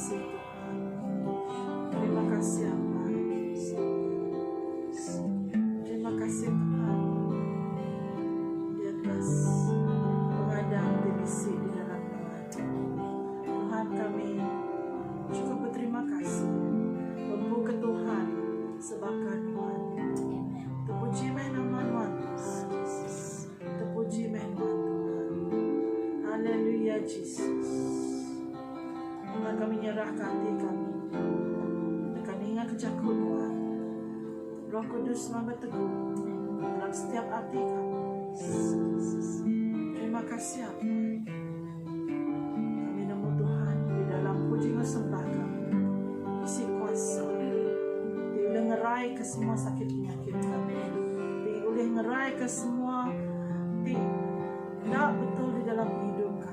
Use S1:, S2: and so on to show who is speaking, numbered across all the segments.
S1: kasih Tuhan. Terima kasih Abah. Terima kasih Tuhan. Di atas pengadang di bisi di dalam Tuhan. Tuhan kami cukup berterima kasih. Pembu ke Tuhan sebakar Tuhan. Terpuji meh nama Tuhan. Terpuji meh nama Tuhan. Haleluya Jesus. Enda kami nyerahka ati kami deka ninga ke jaku Nuan. Roh Kudus nuan betegu dalam setiap ati kami. Terima kasih Apai. Kami nemu Tuhan di dalam puji enggau sembah kami. Isi kuasa ti ulih ngeraika semua sakit penyakit kami. Ti ulih ngeraika semua ti enda betul di dalam pengidup kami.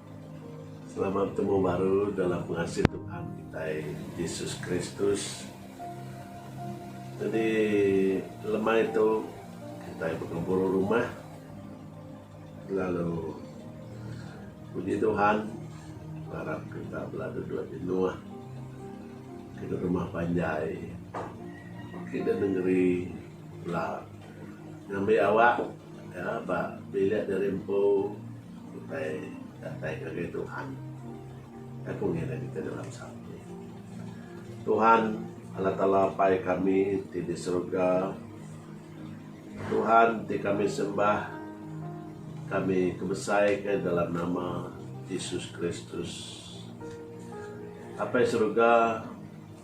S1: Selama betemu baru dalam pengasih Tuhan kitai Jesus Kristus. Jadi lemai tu kitai begempuru rumah lalu puji Tuhan arap kita bela duduk jenuh ke rumah panjai ke negeri bela. Ngambi awak ka ba bilik diri empu utai datai ngagai Tuhan. Nya ku ngiring kita dalam psalm ti. Tuhan Allah Taala Apai kami ti di surga, Tuhan ti kami sembah, kami kebesai ka dalam nama Jesus Kristus. Apai surga.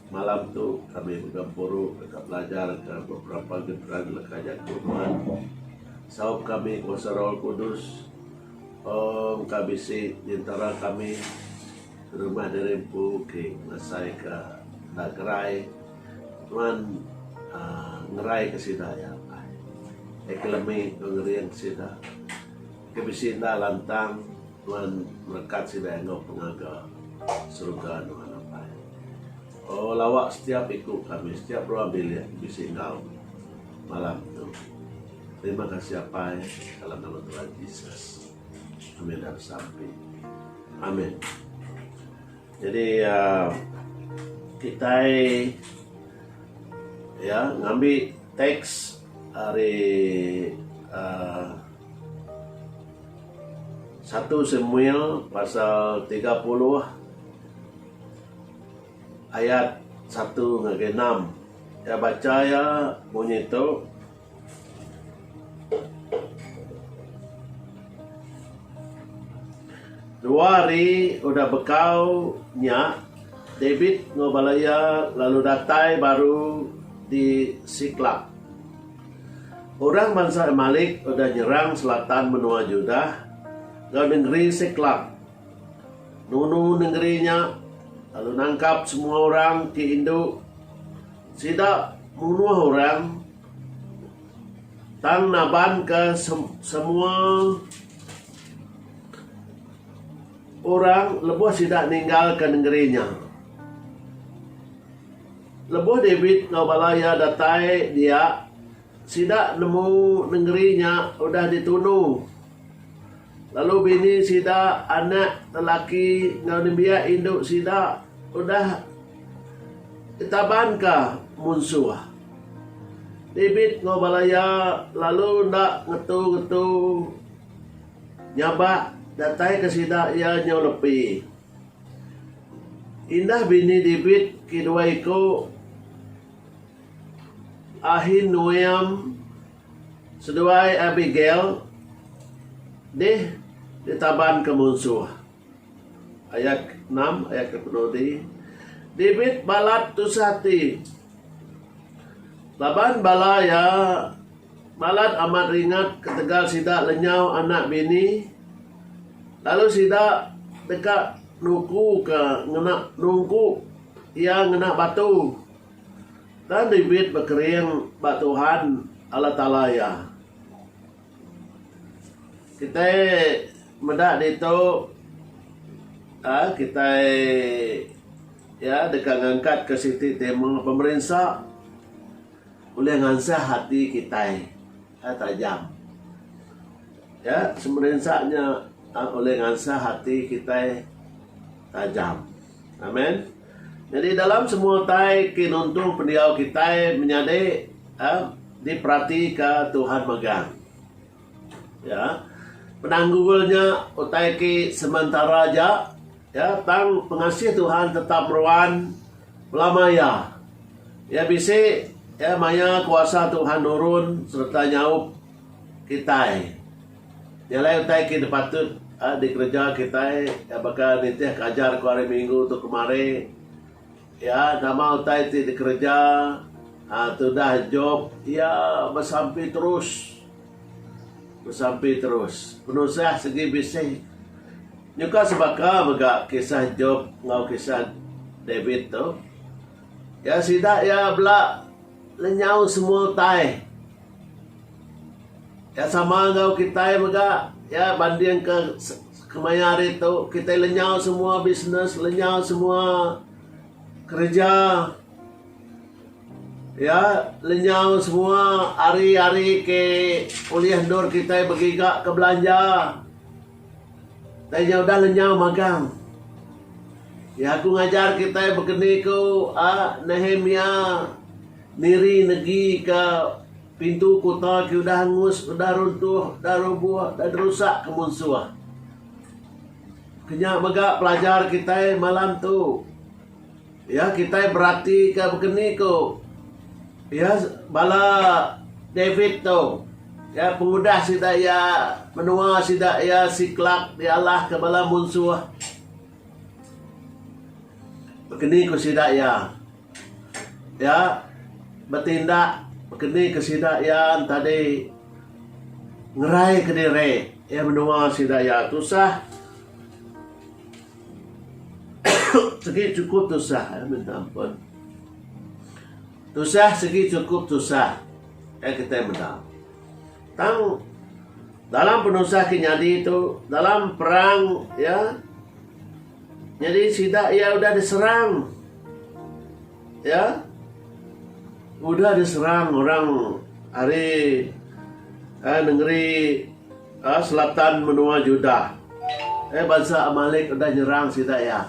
S1: Malam tu, kami begempuru deka belajar ke beberapa genran leka jaku nuan. Saup kami kuasa Roh Kudus. Om ka bisi nyentara kami nerima diri empu ke ngasai ka enda gerai. Nuan uhh ngerai ka sida ya Allah. Ke lemi ngerin sida. Ke bisi enda lantang. Nuan melekat sida enggau pengaga seruga nuan apai. Oh lawa setiap iku kami setiap rua bilik bisi enggau malam tu. Terima kasih apai dalam nama Tuhan Jesus. Amin dan sampi. Amin. Jadi uh, kitai ya ngambi teks hari uh, Satu Samuel pasal tiga puluh ayat satu ngagai enam. Iya bacha iya munyi tu, Dua hari udah bekau nya, David enggau bala iya lalu datai baru di Siklag. Orang bansa Amalek udah nyerang selatan menua Judah enggau nengeri Siklag. Nunu nengeri nya lalu nangkap semua orang ti indu. Sida munuh orang tang nabanka semua orang lebuh sida ninggalka nengeri nya. Lebuh David enggau bala iya datai dia, sida nemu nengeri nya udah ditunu, lalu bini sida, anak lelaki enggau nembiak indu sida udah ditabanka munsuh. David enggau bala iya lalu enda ngetu-ngetu nyabak dataika sida iya nyau lepi. Indah bini David ke dua iku Ahinoam seduai Abigail dih ditabanka munsuh. Ayat enam, ayat ke penuh ti, David balat tusah ati laban bala iya Balat amat ringat ketegal sida lenyau anak bini lalu sida deka nuku ke ngena nungku iya ngena batu tang David bekering ba Tuhan Allah Taala iya. Kitai meda ditu aaa kitai iya deka ngangkatka siti tema pemerinsa. Ulih ngansah ati kitai ka tajam. Ya, semerinsa nya ulih ngansah ati kitai tajam. Amen. Nyadi dalam semua utai ti nuntu pendiau kitai menyadi, diperatika Tuhan megang. Ya, penanggul nya utai ke sementara aja, ya, tang pengasih Tuhan tetap meruan belama iya. Iya bisi, ya, maya kuasa Tuhan nurun sereta nyaup kitai. Nya alai utai ke dipatut dikereja kitai baka nitihka ajar ku hari Minggu tu kemari. Iya nama utai ti dikereja tudah Jop? Iya besampi terus. Besampi terus. Penusah segi bisih. Nyuka sebaka mega kisah Jop enggau kisah David tu. Iya sida iya bela lenyau semua utai. Nya sama enggau kitai mega iya bandingka kemaya hari tu kitai lenyau semua bisnes lenyau semua kereja iya lenyau semua ari-ari ke ulih endur kitai begiga ke belanja tanya udah lenyau magang iya aku ngajar kitai begeni ku Nehemia niri negi ka Pintu kuta ke udah angus, udah runtuh, udah rubuh, udah dirusak ke munsuh. Ke nya mega pelajar kitai malam tu. Iya kitai beratika baka ni ku iya bala David tu. Iya pengudah sida iya menua sida iya Siklak dialahka bala munsuh. Baka ni ku sida iya. Iya betindak keni ke sida iya tadi ngeraika diri iya menua sida iya tusah sigi chukup tusah iya minta ampun tusah sigi chukup tusah iya kitai meda tang dalam penusah ke nyadi tu dalam perang iya. Nyadi sida iya udah diserang ya udah diserang orang ari eh, nengeri eh, selatan menua Judah. Eh bansa Amalek udah nyerang sida iya.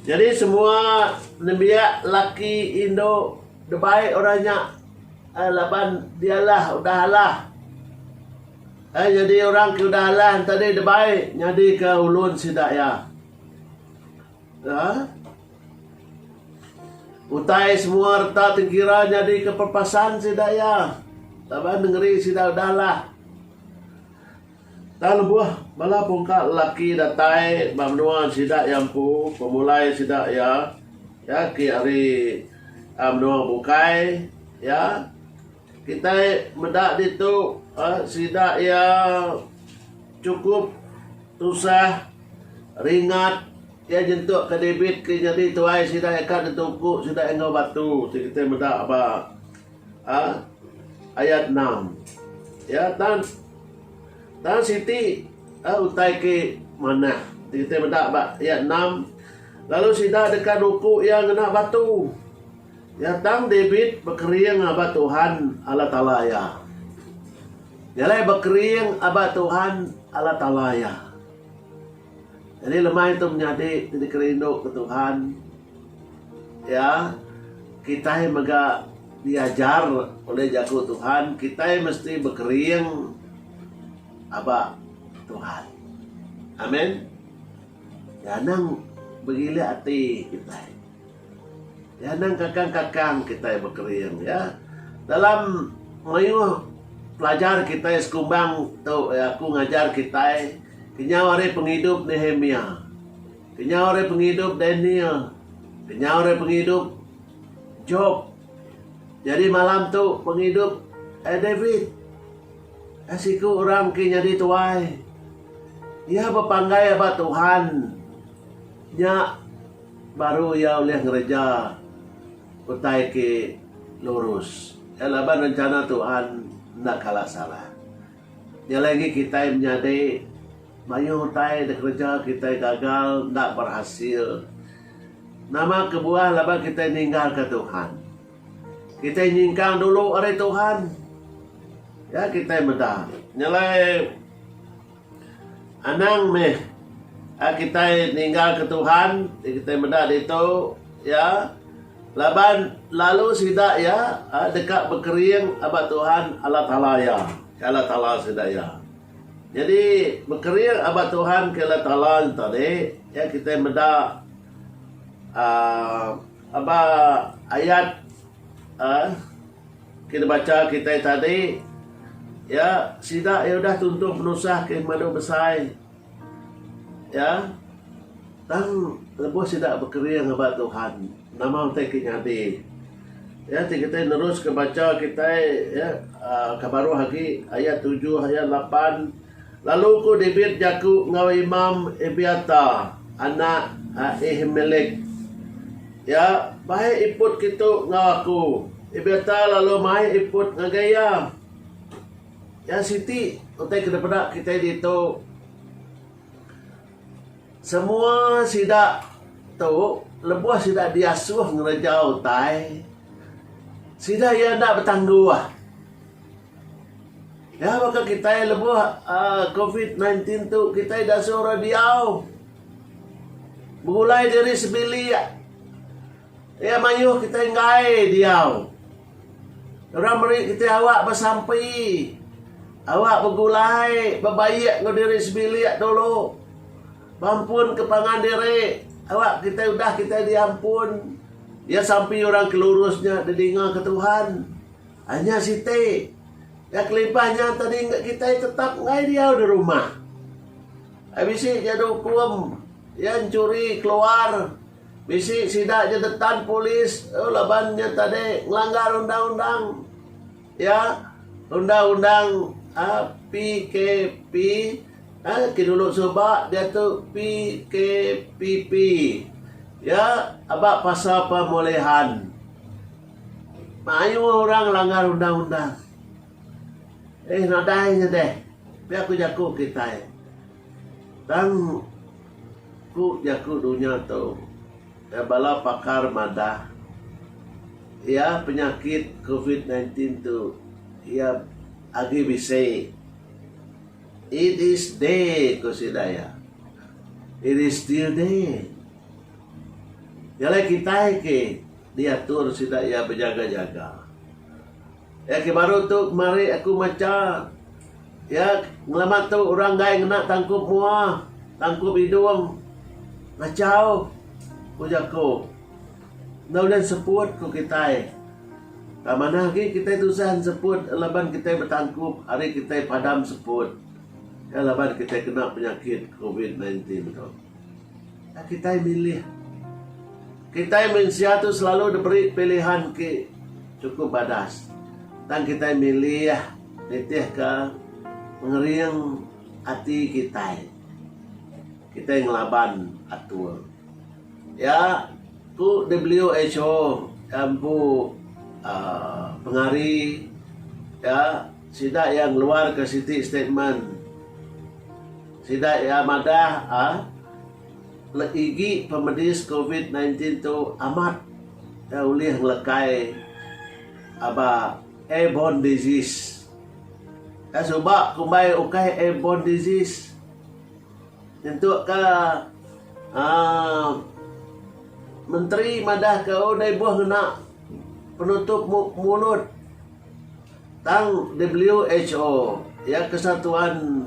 S1: Jadi semua nembiak laki indu debai orang nya eh, laban dialah udah alah Ai nyadi orang ke udah alah enti deh debai nyadika ulun sida iya. Aa. Utai semua reta tengkira nyadika perpasan sida iya laban nengeri sida udah alah. Tang lebuh bala pungka lelaki datai ba menua sida iya empu pemulai sida iya agi ari menua bukai iya. Kitai meda ditu sida iya chukup tusah ringat iya nyentuk ke David ke nyadi tuai sida iya ka dituku sida iya enggau batu ti kitai meda ba ayat enam. Iya tan tan siti utai ke manah ti kitai meda ba ayat enam lalu sida deka nuku iya ngena batu. Iya tang David bekering aba Tuhan Allah Taala iya. Iya alai bekering aba Tuhan Allah Taala iya. Jadi lemai tu menyadi ti dikerindu ke Tuhan iya kitai mega diajar oleh jaku Tuhan kitai mesti bekering aba Tuhan. Amen. Iya anang begilik ati kitai. Nyandang kakang-kakang kitai bekering iya dalam mayuh pelajar kitai sekumbang tu iya ku ngajar kitai kenyau ari pengidup Nehemia, kenyau ari pengidup Daniel, kenyau ari pengidup Job. Jadi malam tu pengidup ai David. Ai siku orang ke nyadi tuai. Iya bepanggai ba Tuhan nya Baru iya ulih ngereja utai ti lurus. Iya laban rencana Tuhan enda kala salah. Nya alai agi kitai menyadi mayuh utai da kereja kitai gagal enda berhasil. Nama kebuah laban kitai ninggalka Tuhan. Kitai nyingkang dulu ari Tuhan. Iya kitai meda. Nya alai. Anang meh a kitai ninggalka Tuhan ti kitai meda ditu iya laban lalu sida iya deka bekering ba Tuhan Allah Taala iya ke Allah Taala sida iya. Nyadi bekering ba Tuhan ke Allah Taala tadi iya kitai meda aaa aba ayat aaa Kita bacha kitai tadi ya sida iya udah tuntung penusah ke madu besai ya tang lebuh sida bekering ngaba Tuhan nama utai ke nyadi ya ti kitai neruska bacha kitai ya aaa ke baruh agi ayat tujuh ayat lapan lalu ku David jaku enggau imam Abiatar anak Ahimelek. Iya, Baik iput kitu enggau aku. Ebiata lalu mai iput ngagai iya. Iya siti utai ke dipeda kitai ditu. Semua sida tu lebuh sida diasuh ngereja utai, sida iya enda betangguh. Nya baka kitai lebuh aaa covid sembilan belas tu kitai ida suah orang diau begulai diri sebilik iya mayuh kitai enggai diau orang meri kitai awak besampi awak begulai bebaik enggau diri sebilik dulu berampun ke pangan diri awak kitai udah kitai diampun iya sampi orang ke lurus nya didinga ke Tuhan. Anya siti, ga kelimpah nya tadi engka kitai tetap enggai diau di rumah. Ai bisi ja da ukum iya enchuri keluar, bisi sida ja detan polis eu laban nya tadi ngelanggar undang-undang iya undang-undang PKP ai ke dulu suba diatu PKPP iya aba pasal pemulihan. Mayuh orang ngelanggar undang-undang. Eh nadai nya deh. Pia ku jaku kitai. Tang ku jaku dunya tu iya bala pakar madah iya penyakit covid sembilan belas tu iya agi bisi. It is day ku sida iya. It is still day. Jalai kitai ke. Diatur sida iya bejaga-jaga. Iya ke baru tu mari aku macha iya ngelama tu orang enggai ngena tangkup mua, tangkup idung. Ngachau ku jaku. Enda ulih enseput ku kitai. Tang manah agi kitai tusah enseput laban kitai betangkup ari kitai padam seput. Iya laban kitai kena penyakit covid nineteen tu. Enda kitai milih. Kitai mensia tu selalu diberi pilihan ke chukup badas, tang kitai milih nitihka pengering ati kitai. Kitai ngelaban atur iya ku WHO iya empu aaa pengari iya sida iya ngeluarka siti statement sida iya madah aaa Legi pemedis covid sembilan belas tu amat da ulih ngelekai aba airborne disease. Ka suba kumbai ukai airborne disease nyentuk ka aaa menteri madah ka oh da ibuh ngena penutup mulut tang who iya kesatuan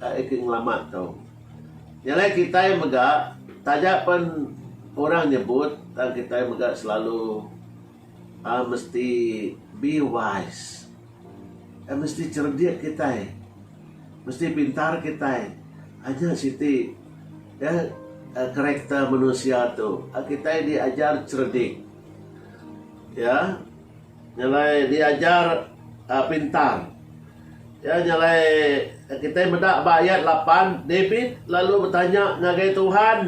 S1: Taib ke ngelamak tu. Nya alai kitai mega taja pen orang nyebut tang kitai mega selalu uhh mesti be wise. Uhh mesti cerdik kitai. Mesti pintar kitai. Uhh nya siti uhh karakter manusia tu. Kitai diajar cerdik. Ya. Nyelai diajar pintar. Iya nyelai kitai meda ba ayat lapan, David lalu betanya ngagai Tuhan.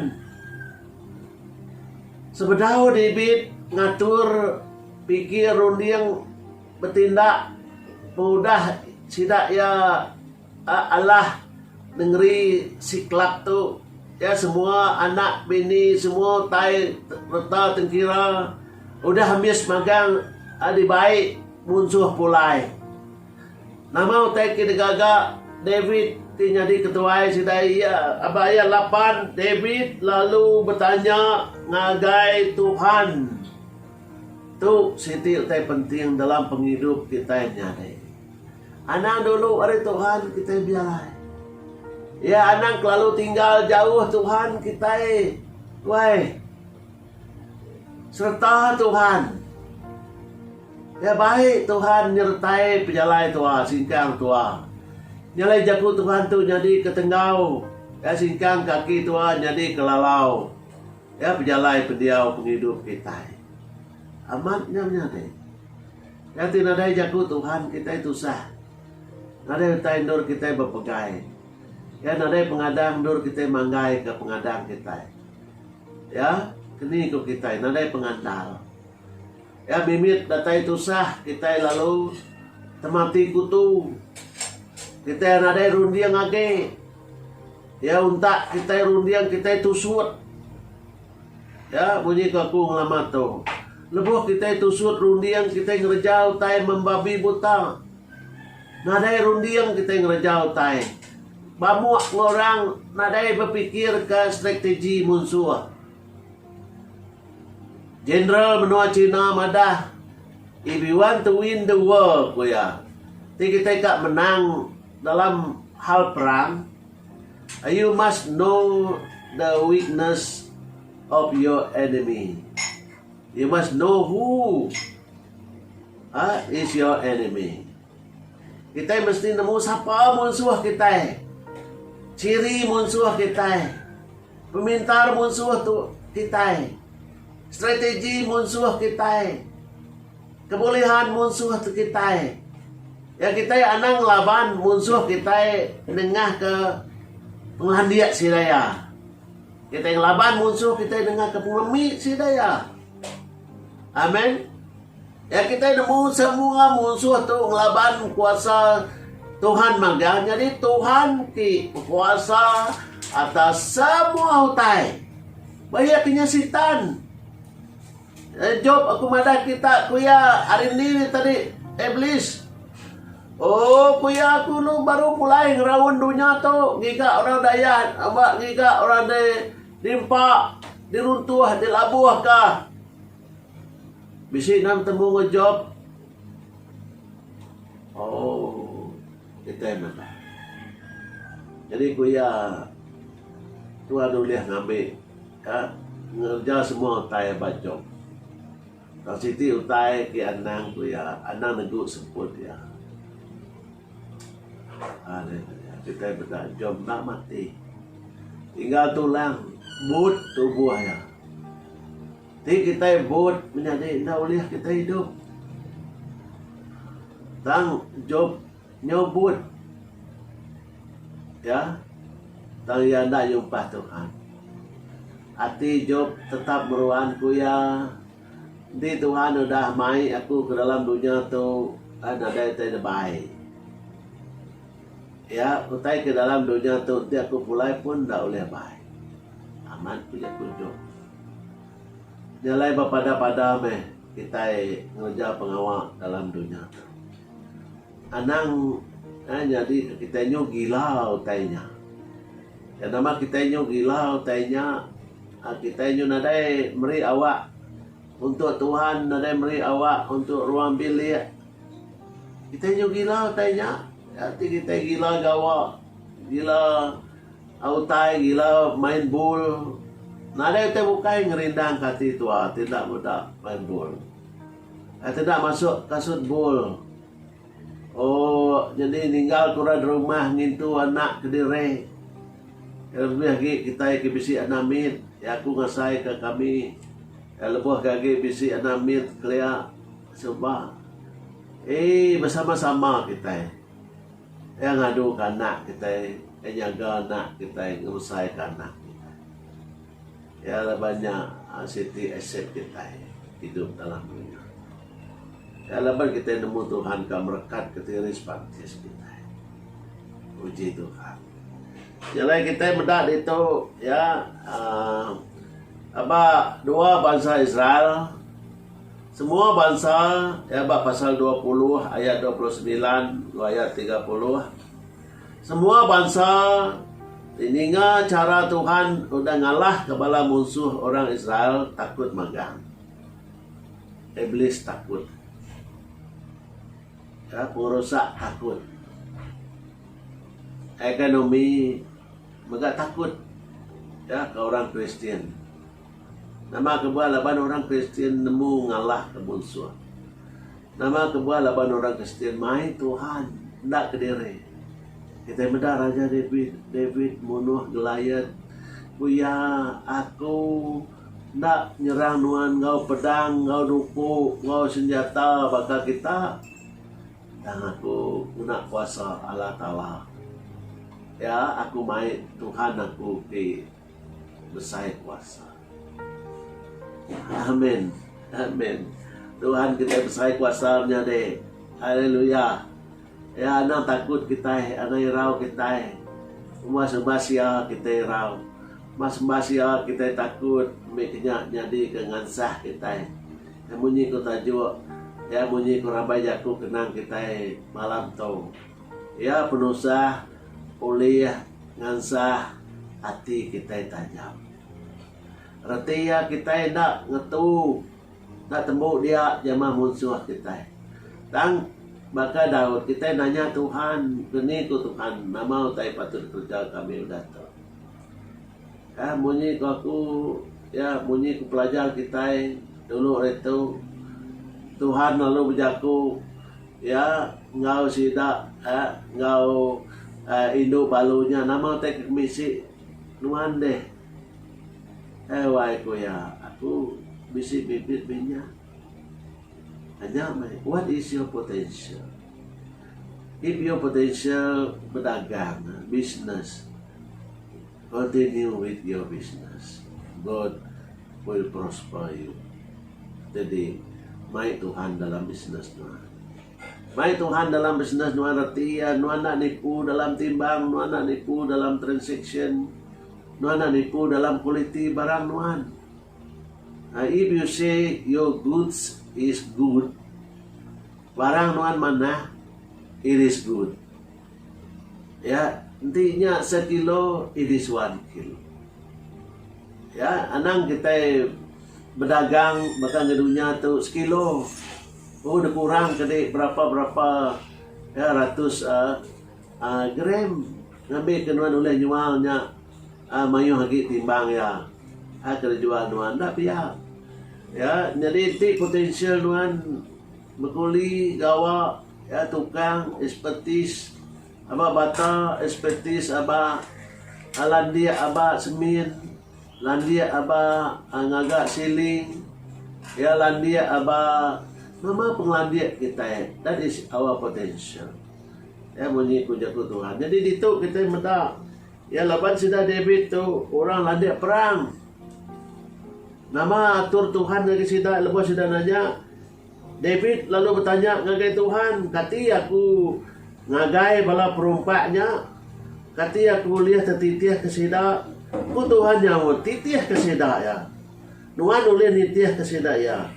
S1: Sebedau David ngatur pikir runding betindak pengudah sida iya Alah nengeri si kelap tu iya semua anak bini semua utai reta tengkira udah ambis magang dibai munsuh pulai. Nama utai ke digaga David ti nyadi ketuai sida iya aba iya laban David lalu betanya ngagai Tuhan. Tu siti utai penting dalam pengidup kitai nyadi. Anang dulu ari Tuhan kitai bialai. Iya anang kelalu tinggal jauh Tuhan kitai wai. Sereta Tuhan. Iya bai Tuhan nyertai pejalai tua singkang tua. Nyalai jaku Tuhan tu nyadi ke tenggau. Iya singkang kaki tua nyadi ke lalau. Iya pejalai pendiau pengidup kitai. Amat nya menyadi. Kati nadai jaku Tuhan kitai tusah. Nadai utai endur kitai bepegai. Iya nadai pengadang endur kitai manggai ke pengadang kitai. Iya keni ku kitai nadai pengandal. Iya mimit datai tusah kitai lalu temati kutu. Kitai nadai runding age. Iya untak kitai runding kitai tusut. Ya, munyi ke aku ngelamat tu. Lebuh kitai tusut runding kitai ngereja utai meh babi buta. Nadai runding kitai ngereja utai. Bamuk enggau orang nadai bepikirka strategi munsuh. Jeneral menua China madah, If we want to win the world, ku iya, ti kitai ka menang dalam hal perang, You must know the weakness of your enemy. You must know who ah is your enemy. Kitai mesti nemu sapa munsuh kitai. Chiri munsuh kitai. Pemintar munsuh tu kitai. Strategi munsuh kitai. Kebolehan munsuh tu kitai. Ya kitai anang ngelaban munsuh kitai nengah ke pengelandik sida iya. Kitai ngelaban munsuh kitai nengah ke pengelemi sida iya. Amen. Ya kitai nemu semua munsuh tu ngelaban kuasa Tuhan magang. Jadi Tuhan ti berkuasa atas semua utai. Bahia kinya sitan. Eh Job aku madah kita ku iya ari endi tadi Iblis oh ku iya aku enu baru pulai ngeraun dunya tu ngiga orang dayan ba ngiga orang di nimpa di runtuh di labuh ka bisi nang tembu ngan Job oh kita madah jadi ku iya Tuhan ulih ngambi. Ka ngereja semua utai aba job. Tang siti utai ke anang ku iya, anang negu sebut iya. Haa deh deh, kitai meda job enda mati. Tinggal tulang, but tubuh iya. Ti kitai but menyadi enda ulih kitai idup. Tang job. Nyebut iya, tang iya enda nyumpah Tuhan. Ati Jop tetap meruan ku iya, Enti Tuhan udah mai aku ke dalam dunya tu, ai nadai utai debai. Iya, utai ke dalam dunya tu enti aku pulai pun enda ulih bai. Amat ku jaku Jop. Nya alai bepada-pada meh kitai ngereja pengawa dalam dunya tu. Anang eh nyadi ke kitai nyu gila utai nya. Nya nama kitai nyu gila utai nya uhh kitai nyu nadai meri awak untuk Tuhan nadai meri awak untuk ruang bilik. Kitai nyu gila utai nya nya ti kitai gila gawa gila utai gila main bol. Nadai utai bukai ngerindangka ati tua ti enda meda main bol. Ai teda masuk kasut bul. Ooh nyadi ninggal kura derumah ngintu anak kediri. Iya lebih agi kitai ke bisi anak mit. Iya aku ngasai ka kami. Iya lebuh ke agi bisi anak mit kelia suba. Eii besama sama kitai. Iya ngadu ka anak kitai. Iya nyaga anak kitai ngerusai ka anak kitai. Iya adalah banya siti aset kitai idup dalam dunya. Iya laban kitai nemu Tuhan ka merekat ke diri sepantis kitai. Puji Tuhan. Nyelai kitai meda ditu iya aaa aba dua bansa Israel semua bansa iya ba pasal dua puluh ayat dua puluh semilan enggau ayat tiga puluh. Semua bansa ti ninga chara Tuhan udah ngalahka bala munsuh orang Israel takut magang. Iblis takut. Ka pengerusak takut. Ekonomi mega takut. Ka orang Kristian. Nama ke buah laban orang Kristian nemu ngalahka munsuh? Nama ke buah laban orang Kristian mai Tuhan enda kediri? Kitai meda Raja David. David munuh Goliat ku iya, Aku enda nyerang nuan enggau pedang, enggau nuku, enggau senjata baka kita, tang aku ngena kuasa Allah Taala. Iya, aku mai Tuhan aku ti Besai kuasa. Amen. Amen. Tuhan kitai besai kuasa menyadi. Haleluya. Ya anang takut kitai, anang irau kitai. Uma sembah sia kitai irau. Mas sembah sia kitai takut mih kinya nyadi ke ngansah kitai. Ya munyi ku tajuk, ya munyi ku rabai jaku kenang kitai malam tu. Ya penusah ulih Ngansah ati kitai tajam. Reti iya kitai enda ngetu enda tembu dia jemah munsuh kitai. Tang baka Daud kitai nanya Tuhan, Keni ku Tuhan, nama utai patut dikereja kami udah tu? Ka munyi ku aku, ya munyi ku pelajar kitai dulu ari tu, Tuhan lalu bejaku, Iya enggau sida enggau indu balu nya nama utai ke bisi nuan deh. Ai wai ku iya, aku bisi bibit binya ka nya meh. What is your potential? If your potential bedagang, business. Continue with your business. God will prosper you. Jadi, mai Tuhan dalam business nuan. Mai Tuhan dalam business nuan reti iya nuan enda nipu dalam timbang, nuan enda nipu dalam transaction, nuan enda nipu dalam kualiti barang nuan. Uh, if you say your goods is good, barang nuan manah, it is good. Ya, enti nya sekilo, idi suan kilo. Ya, anang kitai bedagang baka enggau dunya tu sekilo. Oh dikurang ke di berapa berapa ya ratus uhh uhh gram ngambi ke nuan ulih nyual nya uhh mayuh agi timbang iya uhh ke dijual nuan. Enda pia. Ya, nyadi enti potential nuan. Bekuli gawa iya tukang ekspertis aba bata ekspertis aba landik aba semin, landik aba ngaga siling, iya landik aba nama pengelandik kitai that is our potential iya munyi ku jaku Tuhan. Jadi ditu kitai meda iya laban sida David tu orang landik perang. Nama atur Tuhan ngagai sida lebuh sida nanya David lalu betanya ngagai Tuhan, Kati aku ngagai bala perompak nya? Kati aku ulih tetitihka sida? Ku Tuhan nyaut, Titihka sida iya. Nuan ulih nitihka sida iya,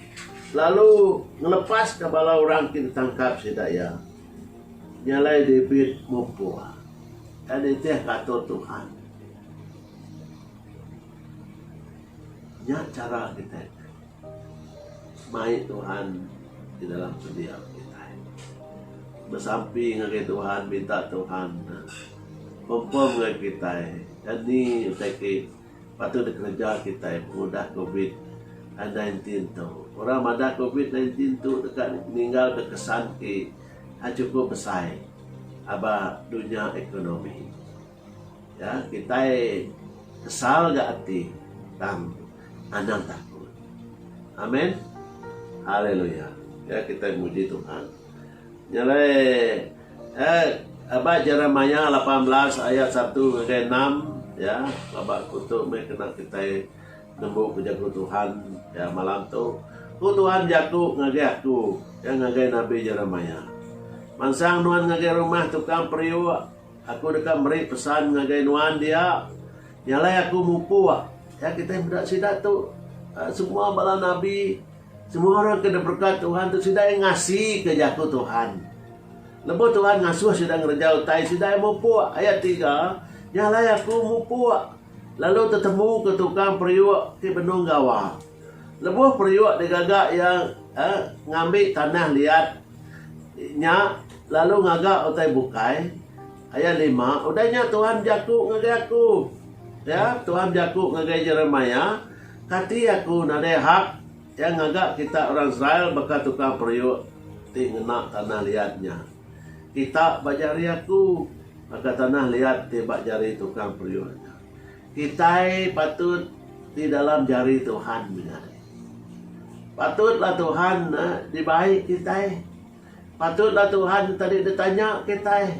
S1: lalu ngelepaska bala orang ti ditangkap sida iya. Nya alai David mupuk tang nitihka atur Tuhan. Nya chara kitai. Mai Tuhan di dalam pendiau kitai. Besampi ngagai Tuhan, minta Tuhan confirm ngagai kitai anih utai ti patut dikereja kitai pengudah covid aii nineteen tu. Orang madah covid nineteen tu deka ninggalka kesan ti chukup besai aba dunya ekonomi. Kitai kesal ga ati tang anang takut. Amen. Haleluya. Ya kitai muji Tuhan. Nyelai ya ba Jeremiah lapan belas ayat satu ngagai enam ya baba kutu meh kena kitai nemu bejaku Tuhan ya malam tu. Ku Tuhan bejaku ngagai aku ya ngagai nabi Jeremiah. Mansang nuan ngagai rumah tukang periuk. Aku deka meri pesan ngagai nuan dia, nyalai aku mupuk. Ya kitai meda sida tu semua bala nabi, semua orang ke diberkat Tuhan tu sida iya ngasika jaku Tuhan. Lebuh Tuhan ngasuh sida ngereja utai sida iya mupuk. Ayat tiga, nyalai aku mupuk lalu tetemuka tukang periuk ti benung gawa. Lebuh periuk digaga iya ngambi tanah liat nya lalu ngaga utai bukai, ayat lima, udah nya Tuhan bejaku ngagai aku, ya, Tuhan bejaku ngagai Jeremiah, Kati aku nadai hak ngaga kita orang Israel baka tukang periuk ti ngena tanah liat nya? Kita ba jari aku, baka tanah liat ti ba jari tukang periuk nya. Kitai patut ti dalam jari Tuhan mega. Patutlah Tuhan dibai kitai. Patutlah Tuhan enti tadi ditanya kitai.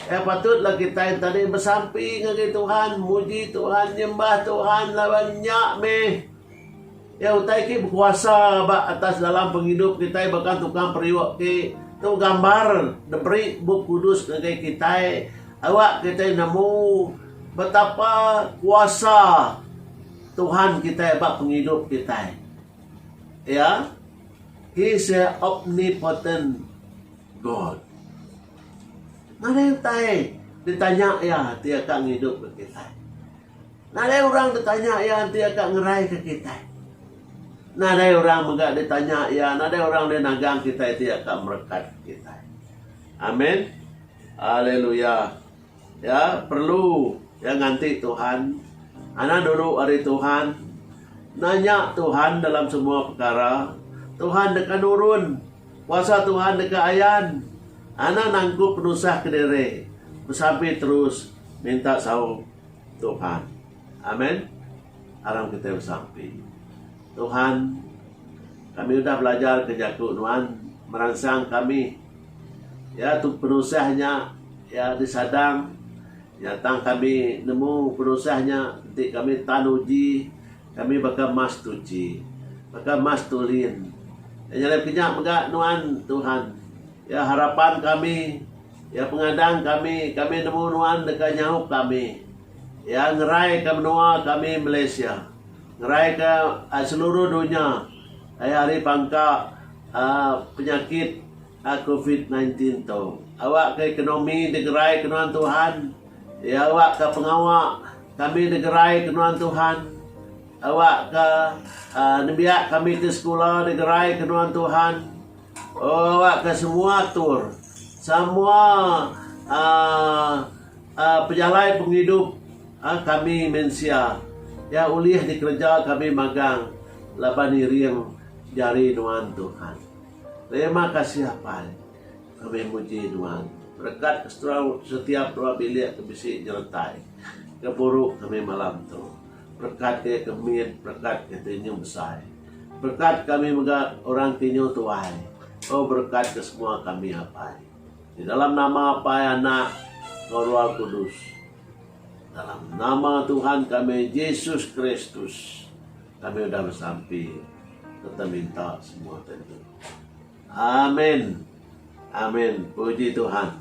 S1: Iya patutlah kitai enti tadi besampi ngagai Tuhan, muji Tuhan, nyembah Tuhan laban nya meh. Iya utai ti bekuasa ba atas dalam pengidup kitai baka tukang periuk ti tu gambar diberi Bup Kudus ngagai kitai awak kitai nemu betapa kuasa Tuhan kitai ba pengidup kitai. Iya he is a omnipotent God. Nadai utai ditanya iya ti akan ngidup kitai. Nadai orang tetanya iya enti iya ka ngeraika kitai. Nadai orang mega ditanya iya, nadai orang deh nagang kitai enti iya ka merekatka kitai. Amen. Haleluya. Iya perlu iya nganti Tuhan. Anak dulu ari Tuhan. Nanya Tuhan dalam semua pekara. Tuhan deka nurun. Kuasa Tuhan deka ayan. Anak nangkup penusah kediri. Besampi terus minta saung. Tuhan. Amen. Aram kitai besampi. Tuhan, kami udah belajar ke jaku Nuan meransang kami. Ya tu penusah nya ya disadang ya tang kami nemu penusah nya enti kami tan uji kami baka mas tuchi, baka mas tulin. Nyadap kinya mega Nuan Tuhan. Ya harapan kami. Iya pengadang kami, kami nemu nuan deka nyaup kami. Iya ngeraika menua kami Malaysia, ngeraika seluruh dunya ai ari pangka penyakit covid nineteen ti tu. Awakka ekonomi digerai ke nuan Tuhan, iya awakka pengawa kami digerai ke nuan Tuhan, awakka nembiak kami ti sekula digerai ke nuan Tuhan. Awakka semua atur, semua pejalai pengidup kami mensia iya ulih dikereja kami magang laban iring jari nuan Tuhan. Terima kasih Apai kami muji nuan berkat setiap dua bilik ke bisi nyeretai ke buru kami malam tu. Perekat ke ke mit, perekat ke ti nyuh besai. Perekat kami mega orang ti nyuh tuai. O berekat ke semua kami Apai. Ti dalam nama Apai Anak enggau Roh Kudus. Dalam nama Tuhan kami Jesus Kristus kami udah besampi serta minta semua tentu. Amin. Amin. Puji Tuhan.